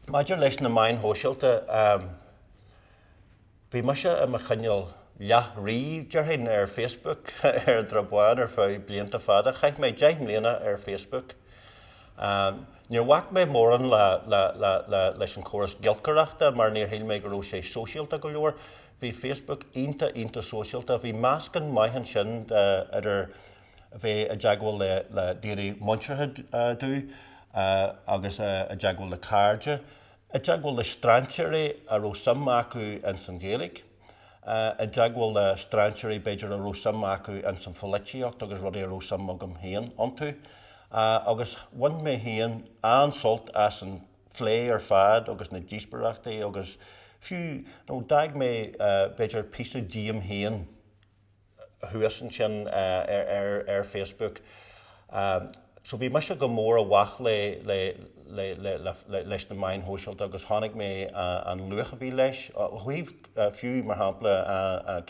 Maidir leis na meáin shóisialta, bhí mise i mo chineál leath-rí, déarfainn, ar Facebook ar tráth amháin ar feadh blianta fada. Chaith mé deich mbliana ar Facebook. Níor bhac mé mórán leis an chóras giolcaireachta mar níor shíl mé go raibh sé sóisialta go leor. Bhí Facebook iontach, iontach sóisialta. Bhí meascán maith ansin idir. a bheith i dteagmháil le daoine muinteartha dúinn agus i dteagmháil le cairde, i dteagmháil le strainséirí a raibh suim acu ins an Ghaeilge, i dteagmháil le strainséirí b'fhéidir a raibh suim acu ins an pholaitíocht agus rudaí a raibh suim agam féin iontu. Agus bhain mé féin an-sult as an phlé ar fad agus na díospóireachtaí agus fiú d'fhág mé b'fhéidir píosa díom féin, thuas ansin ar Facebook so bhí mise go mór i bhfách le leis na meáin shóisialta agus chonaic mé an luach a bhí leis ó thaobh fiú mar shampla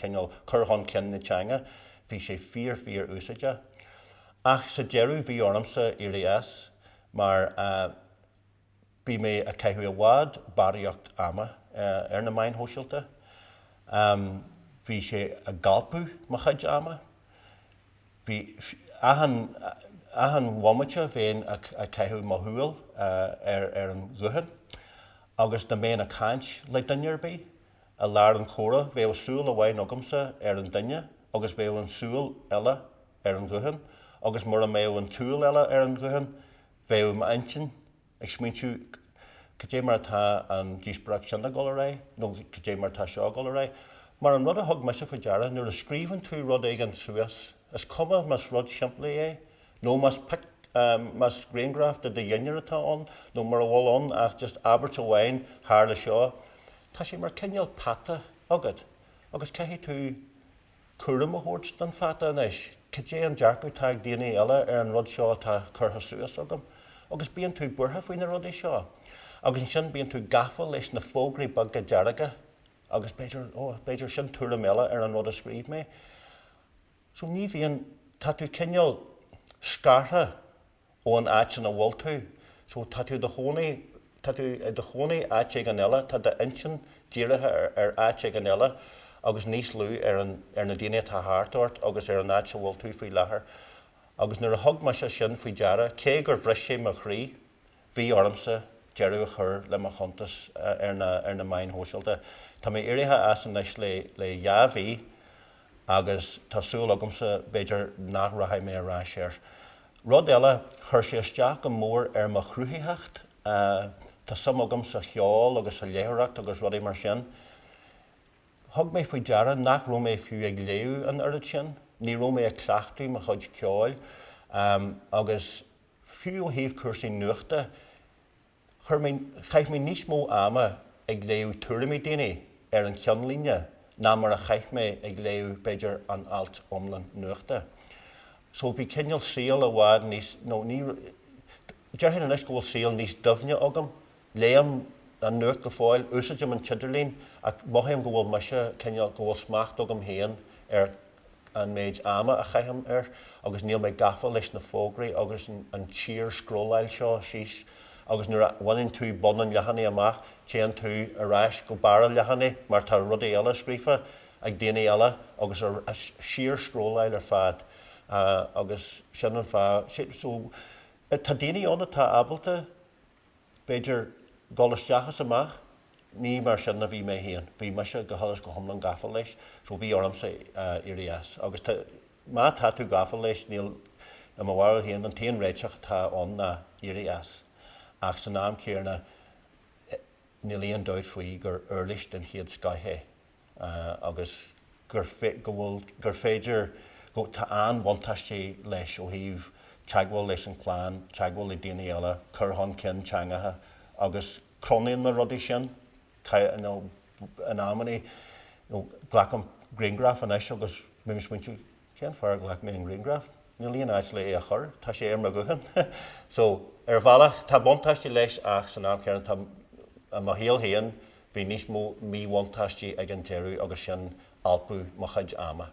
cineál cur chun cinn na teanga bhí sé fíor fíor úsáideach ach sa deireadh bhí ormsa éirí as mar bhí mé ag caitheamh i bhfad barraíocht ama ar na meáin shóisialta. Bhí sé ag alpadh mo chuid ama. Bhí, achan, achan bhomaite bheinn ag caitheamh mo shúil ar, ar an ghuthán agus dá mbeinn ag caint le duine ar bith i lár an chomhrá bheadh súil amháin agamsa ar an duine agus bheadh an tsúil eile ar an ghuthán agus mura mbeadh an tsúil eile ar an ghuthán bheadh m'intinn ag smaointiú cad é mar atá an díospóireacht sin ag dul ar aghaidh nó cad é mar atá seo ag dul ar aghaidh. Mar an rud a thug mise faoi deara, nuair a scríobhann tú rud éigin suas, is cuma más rud simplí é nó más más grianghraf de do dhinnéar atá ann nó mura bhfuil ann ach just abairt amháin, tharla seo, tá sé mar cineál peata agat agus caithfidh tú. cúram a thabhairt don pheata anois. Cad é an dearcadh atá ag daoine eile ar an rud seo atá curtha suas agam? Agus bíonn tú buartha faoi na rudaí seo. Agus ansin bíonn tú gafa leis na fógraí beaga dearga agus b'fhéidir, oh, b'fhéidir sin tuairim eile ar an rud a scríobh mé. So ní bhíonn, tá tú cineál scartha. ón áit ina bhfuil tú. So tá tú do chónaí, tá tú i do chónaí áit éigin eile, tá d'intinn dírithe ar áit éigin eile agus níos lú ar an, ar na daoine atá thart ort agus ar an áit a bhfuil tú faoi láthair. Agus nuair a thug mise sin faoi deara, cé gur bhris sé mo chroí, bhí ormsa deireadh a chur le mo chuntas ar na, ar na meáin shóisialta. Tá mé éirithe as anois le, le dhá mhí. agus tá súil agamsa, b'fhéidir, nach rachaidh mé ar ais air. Rud eile, chuir sé isteach go mór ar mo chruthaitheacht. Tá suim agam sa cheol agus sa léitheoireacht agus rudaí mar sin. Thug mé faoi deara nach raibh mé fiú ag léamh an oiread sin. Ní raibh mé ag cleachtadh mo chuid ceoil, agus fiú ó thaobh cúrsaí nuachta, Chuir mé, chaith mé níos mó ama ag léamh tuairimí daoine ar an cheannlíne ná mar a chaith mé ag léamh, b'fhéidir, an alt iomlán nuachta. So, bhí cineál saol i bhfad níos, ó, déarfainn anois go bhfuil saol níos doimhne agam, léim an nuacht go fóill, úsáidim an t-idirlíon ach mothaím go bhfuil mise, cineál, go bhfuil smacht agam féin ar, an méid ama a chaithim air agus níl mé gafa leis na fógraí agus an tsíor scrolláil seo síos agus nuair a bhaineann tú bun an leathanaigh amach téann tú ar ais go barr an leathanaigh mar tá rudaí eile scríofa ag daoine eile agus síor scrolláil ar fad agus sin an fhadhb so tá daoine ann atá ábalta b'fhéidir, dul isteach is amach. Ní mar sin a bhí mé féin. Bhí mise go huile is go hiomlán gafa leis so bhí ormsa éirí as. Agus má tá tú gafa leis, níl, i mo bharúil féin, an t-aon réiteach atá ann ná éirí as. Ach san am céanna, níl aon dabht faoi gur uirlis den chéad scoith é. agus gur go bhfuil gur féidir tá an-bhuntáistí leis ó thaobh teagmháil leis an clann, teagmháil le daoine eile, cur chun cinn teangacha agus cronaím na rudaí sin. In amannaí glacaim grianghraf anois agus bím ag smaointiú. Cén fáth ar ghlac mé an grianghraf? Níl aon áit le é a chur, tá sé ar mo ghuthán. So, ar bhealach, tá buntáistí leis ach san am céanna tá, i mo shaol féin, bhí níos mó míbhuntáistí ag an deireadh agus sin alpadh mo chuid ama.